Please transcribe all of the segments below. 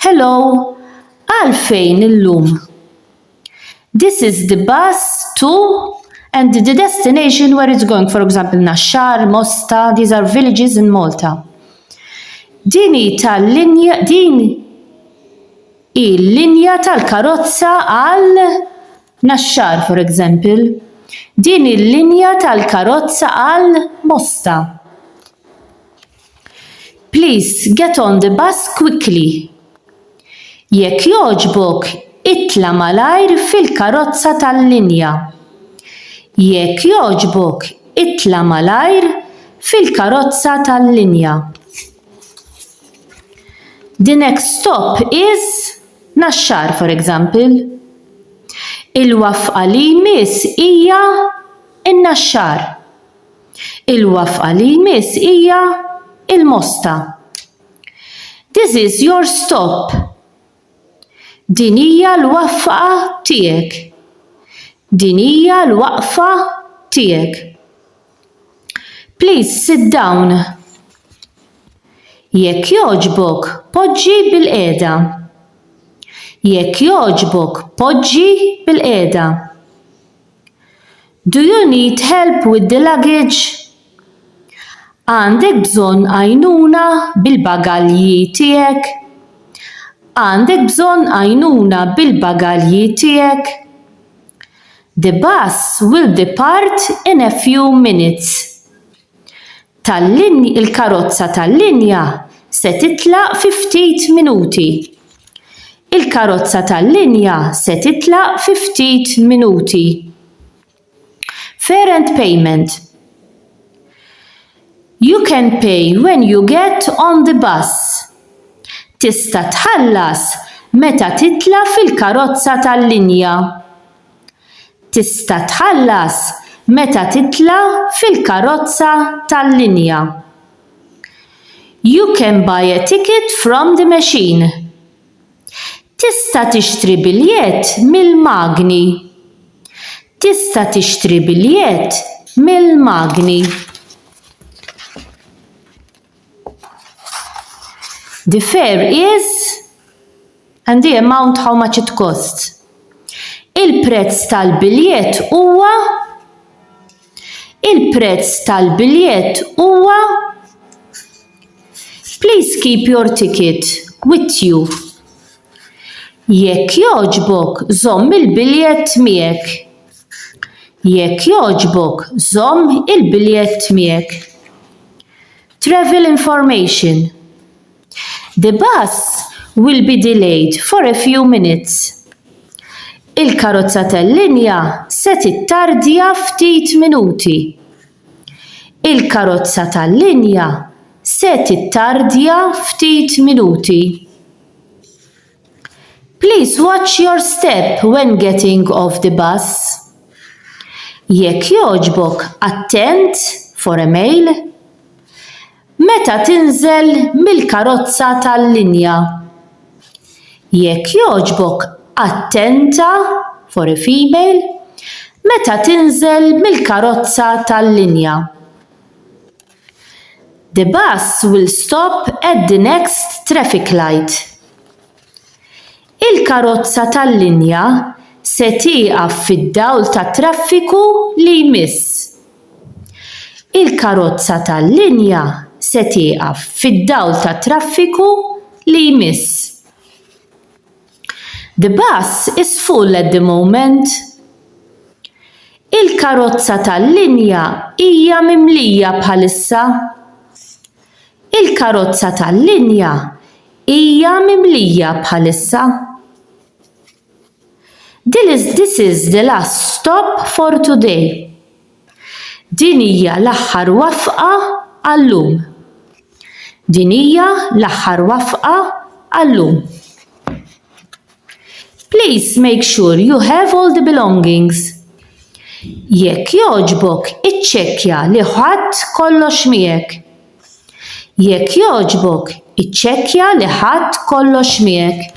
Hello, għalfejn illum? This is the bus to and the destination where it's going, for example, Naxxar, Mosta, these are villages in Malta. Din hi tal-linja, din hi l-linja tal-karozza għal Naxxar, for example. Din hi l-linja tal-karozza għal Mosta. Please get on the bus quickly. Jekk jogħġbok itla' malajr fil-karozza tal-linja. Jekk jogħġbok itla' malajr fil-karozza tal-linja. The next stop is Naxxar, for example. Il-wafqa li jmiss hija n-Naxxar. Il-wafqa li jmiss hija il-mosta. This is your stop. Din hija l-wafqa tiegħek. Din hija l-waqfa tiegħek. Please sit down. Jekk jogħġbok poġġi bil-qiegħda. Jekk jogħġbok poġġi bil-qiegħda. Do you need help with the luggage? Għandek bżonn għajnuna bil-bagalji tiegħek? Għandek bżonn għajnuna bil-bagalji tiegħek? The bus will depart in a few minutes. Il-karozza tal-linja se titlaq fi ftit minuti. Il-karozza tal-linja se titlaq fi ftit minuti. Fair and payment. You can pay when you get on the bus. Tista' tħallas meta titla' fil-karozza tal-linja. Tista' tħallas meta titla' fil-karozza tal-linja. You can buy a ticket from the machine. Tista' tixtri biljett mill-magni. Tista' tixtri biljett mill-magni. The fare is and the amount how much it costs. Il-prezz tal-biljett huwa il-prezz tal-biljett huwa Please keep your ticket with you. Jekk jogħġbok, żomm il-biljett miegħek. Jekk jogħġbok żomm il-biljett miegħek. Travel information The bus will be delayed for a few minutes. Il-karozza tal-linja se tittardja ftit minuti. Il-karozza tal-linja se tittardja ftit minuti. Please watch your step when getting off the bus. Jekk jogħġbok attent for a mail meta tinżel mill-karozza tal-linja. Jekk jogħġbok attenta for a female meta tinżel mill-karozza tal-linja. The bus will stop at the next traffic light. Il-karozza tal-linja se tieqaf fid-dawl tat-traffiku li jmiss. Il-karozza tal-linja se tieqaf fid-dawl tat-traffiku li jmiss. The bus is full at the moment. Il-karozza tal-linja hija mimlija bħalissa. Il-karozza tal-linja hija mimlija bħalissa. This is the last stop for today. Din hija l-aħħar wafqa għal-lum. Din hija l-aħħar wafqa għal-lum. Please make sure you have all the belongings. Jekk jogħġbok iċċekkja li ħadt kollox miegħek. Jekk jogħġbok iċċekkja li ħadt kollox miegħek.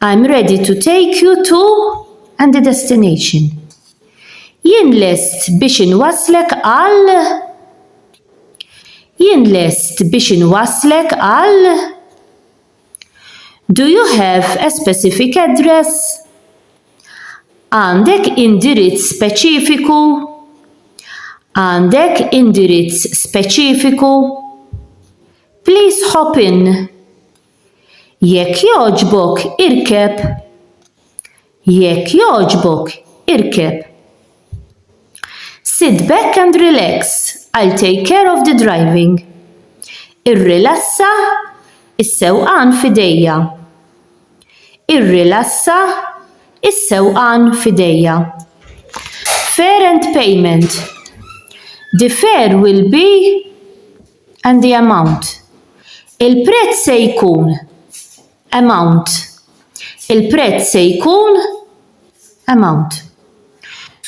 I'm ready to take you to and the destination. Jien lest biex inwasslek għal Jien lest biex inwasslek għal Do you have a specific address? Għandek indirizz speċifiku? Għandek indirizz speċifiku? Please hop in. Jekk jogħġbok irkeb. Jekk jogħġbok irkeb. Sit back and relax, I'll take care of the driving. Irrilassa, is-sewqan f'idejja. Irrilassa, is-sewqan f'idejja. Fare and payment. The fare will be and the amount. Il-prezz se jkun amount. Il-prezz se jkun amount.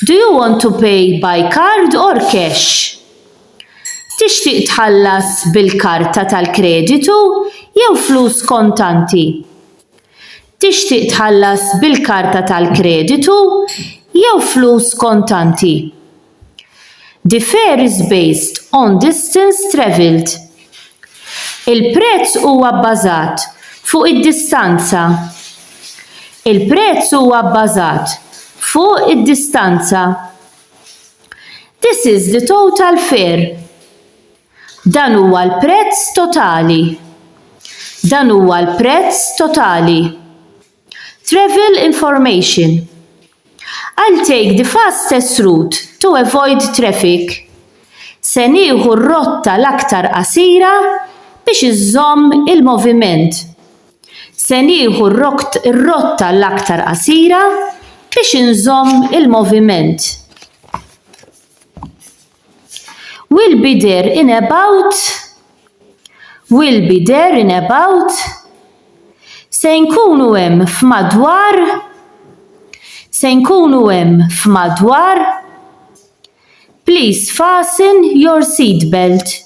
Do you want to pay by card or cash? Tixtieq tħallas bil-karta tal-kreditu jew flus kontanti? Tixtieq tħallas bil-karta tal-kreditu jew flus kontanti? differes based on distance travelled. Il-prezz huwa bbażat fuq id-distanza. Il-prezz huwa bbażat fuq id-distanza. This is the total fare. Dan huwa l-prezz totali. Dan huwa l-prezz totali. Travel information I'll take the fastest route to avoid traffic Se nieħu r-rotta l-aktar qasira biex inżomm il-moviment Se nieħu r-rotta l-aktar qasira biex inżomm il-moviment. Will be there in about Will be there in about Se nkunu hemm f'madwar Se nkunu hemm f'madwar Please fasten your seat belt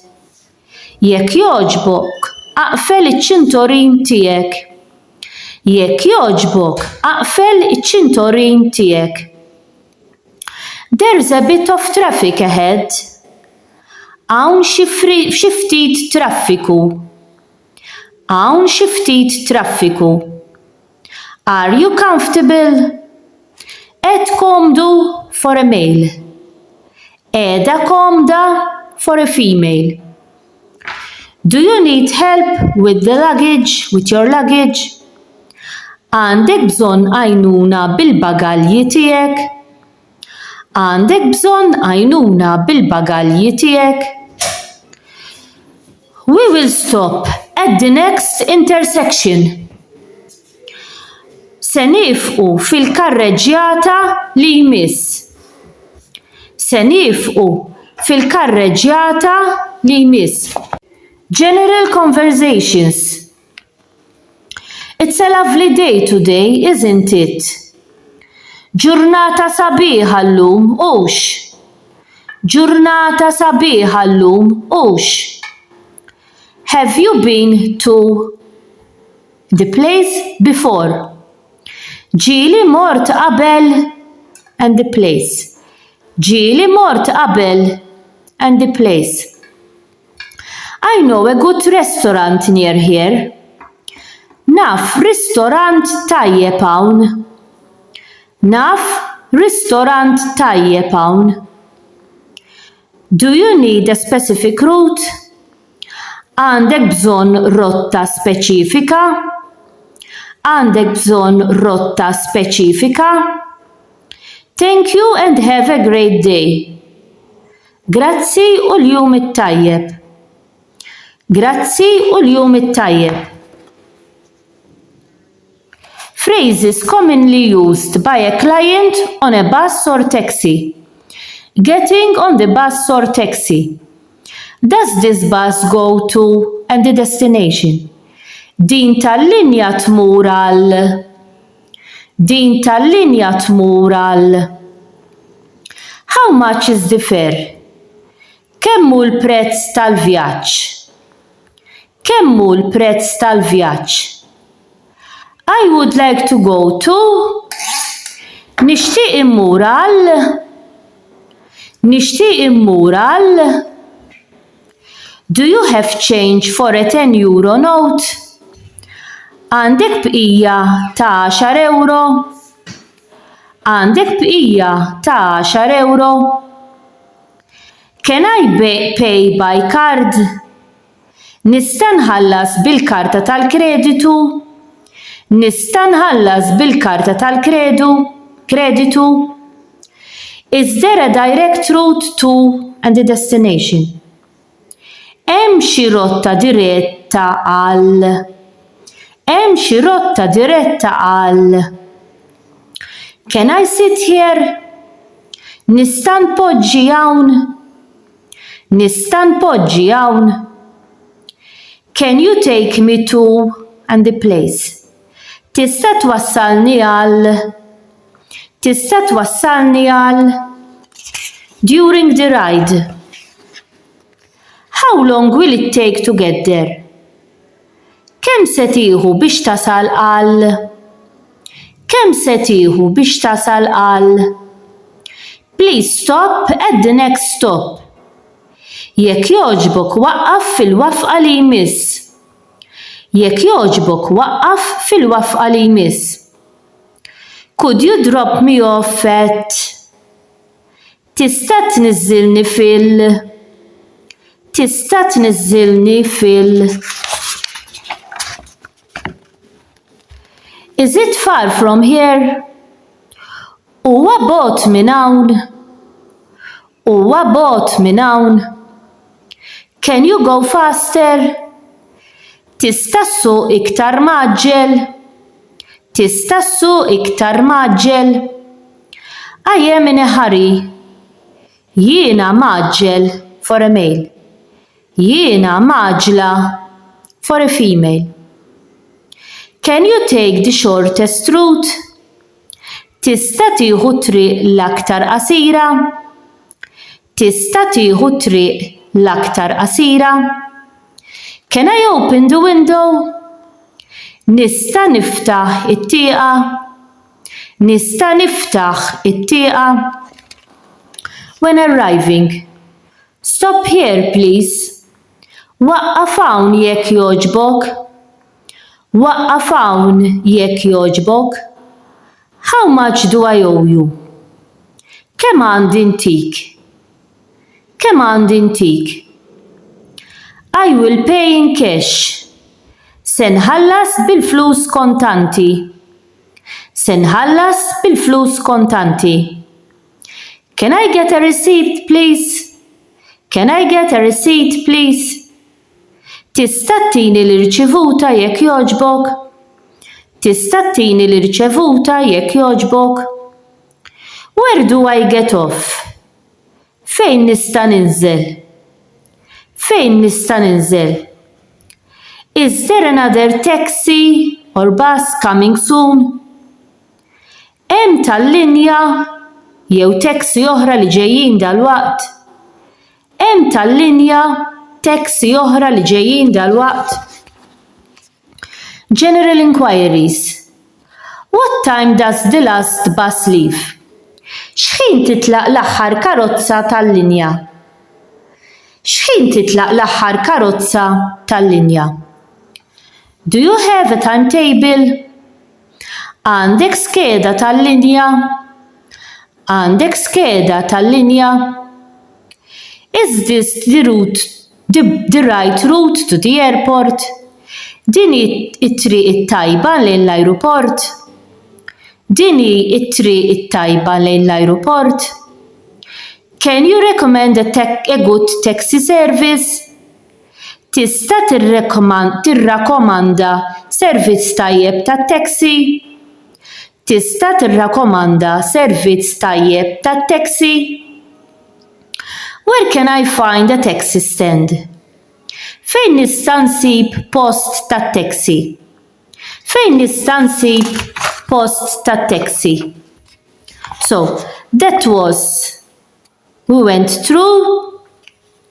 Jekk jogħġbok aqfel iċ-ċintorin tiegħek Jekk jogħġbok aqfel iċ-ċintorin tiegħek. There's a bit of traffic ahead. Hawn xi xi ftit traffiku. Hawn xi ftit traffiku. Are you comfortable? Qed komdu for a male. Qiegħda komda for a female. Do you need help with the luggage, with your luggage? Għandek bżonn għajnuna bil-bagalji tiegħek? Għandek bżonn għajnuna bil-bagalji tiegħek? We will stop at the next intersection. Se nifqu fil-karreġġjata li jmiss. Se nifqu fil-karreġġjata li jmiss. General conversations It's a lovely day today, isn't it? Ġurnata sabiħa llum, hux? Ġurnata sabiħa llum, hux? Have you been to The place before. Ġieli mort qabel and the place. Ġieli mort qabel and the place. I know a good restaurant near here. Naf ristorant tajjeb hawn. Naf ristorant tajjeb hawn. Do you need a specific route? Għandek bżonn rotta speċifika? Għandek bżonn rotta speċifika? Thank you and have a great day. Grazzi u l-jum it-tajjeb. Grazzi u l-jum it-tajjeb. Phrases commonly used by a client on a bus or taxi, Getting on the bus or taxi, Does this bus go to and the destination? Din tal-linja tmur għal Din tal-linja tmur għal How much is the fare? Kemm hu l-prezz tal-vjaġġ? Kemm hu l-prezz tal-vjaġġ? I would like to go to Nixtieq immur għal Nixtieq immur għal Do you have change for a ten euro note? Għandek bqija ta' għaxar ewro? Għandek bqija ta' għaxar ewro? Can I pay by card? Nista' nħallas bil-karta tal-kreditu? Nista' nħallas bil-karta tal-kredu, kreditu? Is there a direct route to and a destination? Hemm xi rotta diretta għal Hemm xi rotta diretta għal Can I sit here? Nista' npoġġi hawn? Nista' npoġġi hawn? Can you take me to and the place? Tista' twassalni għal Tista' twassalni għal During the ride How long will it take to get there? Kemm se tieħu biex tasal għal Kemm se tieħu biex tasal għal Please stop at the next stop Jekk jogħġbok waqqaf fil-wafqa li jmiss Jekk jogħġbok waqqaf fil-wafqa li jmiss Could you drop me off at Tista' tniżżilni fil. Tista' tniżżilni fil. Is it far from here? Huwa bogħod minn hawn? Huwa bogħod minn hawn? Can you go faster? Tista' ssuq iktar mgħaġġel? Tista' ssuq iktar mgħaġġel? I am in a hurry. Jiena mgħaġġel, for a male. Jiena mgħaġġla, for a female. Can you take the shortest route? Tista' tieħu t-triq l-aktar qasira? Tista' tieħu t-triq l-aktar qasira? Can I open the window? Nista' niftaħ it-tieqa? Nista' niftaħ it-tieqa? When arriving. Stop here, please. Waqqaf hawn jekk jogħġbok. Waqqaf hawn jekk jogħġbok. How much do I owe you? Kemm għandi ntik? Kemm għandi ntik? I will pay in cash, Se nħallas bil-flus kontanti. Se nħallas bil-flus kontanti. Can I get a receipt, please? Can I get a receipt, please? Tista' ttini l-irċivuta jekk jogħġbok? Tista' ttini l-irċevuta jekk jogħġbok? Where do I get off? Fejn nista' ninżel? Fejn nista' ninżel? Is there another taxi or bus coming soon? Hemm tal-linja jew taxi oħra li ġejjin dalwaqt? Hemm tal-linja, taxi oħra li ġejjin dalwaqt? General Inquiries. What time does the last bus leave? X'ħin titlaq l-aħħar karozza tal-linja? X'ħin titlaq l-aħħar karozza tal-linja? Do you have a timetable? Għandek skeda tal-linja? Għandek skeda tal-linja? Is this the route The right route to the airport? Din hi t-triq it-tajba lejn l-ajruport? Din hi t-triq it-tajba lejn l-ajruport? Can you recommend a a good taxi service? Tista' tirrakomanda servizz tajjeb tat-taxi? Tista' tirrakomanda servizz tajjeb tat-taxi? Where can I find a taxi stand? Fejn nista' nsib post tat-taxi? Fejn nista' nsib post tat-taxi? So, that was we went through